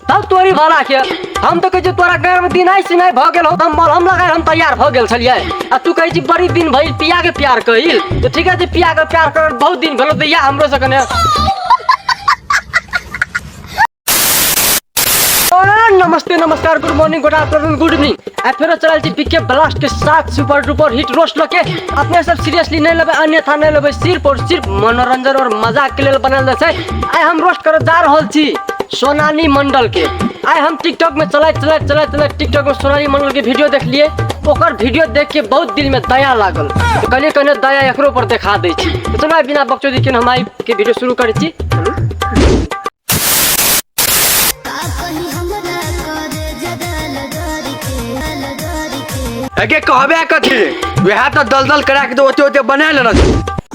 तब तोरी भला के हम तो कहै छी तोरा गाँव में दिन ऐसी नहीं भऽ गेल हो हम मलहम लगाए हम तैयार भऽ गेल छलिए आ तू कहै छी बड़ी दिन भइल पिया के प्यार कहिल तो ठीक है जे पिया के प्यार कर बहुत दिन भेलो दैया हमरो से कने और नमस्ते नमस्कार good morning good afternoon good evening आ फेरो चलल छी पिके ब्लास्ट के साथ सुपर डुपर हिट रोस्ट लके अपने सब सीरियसली नहीं लेबै अन्यथा नहीं लेबै सिर्फ और सिर्फ मनोरंजन और मजाक के लेल बनल रहै छै आइ हम रोस्ट करऽ जा रहल छी सोनाली मंडल के आइ हम टिकटॉक में चलैत चलैत चलैत चलैत टिकटॉक में सोनाली मंडल के वीडियो देखलिए ओकर वीडियो देख के बहुत दिल में दया लागल तो कहलिए कहने दया एकरो पर देखा दै छी तो चलो आइ बिना बकचोदी के हम आइ के वीडियो शुरू करै छी एके कहबे कथी वएह तो दलदल करा के तो ओते ओते बना लेना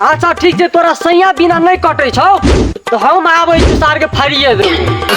अच्छा ठीक छै तोरा सैया बिना नहि कटै छौ तऽ हम आबै छी सारके फाड़िए देबै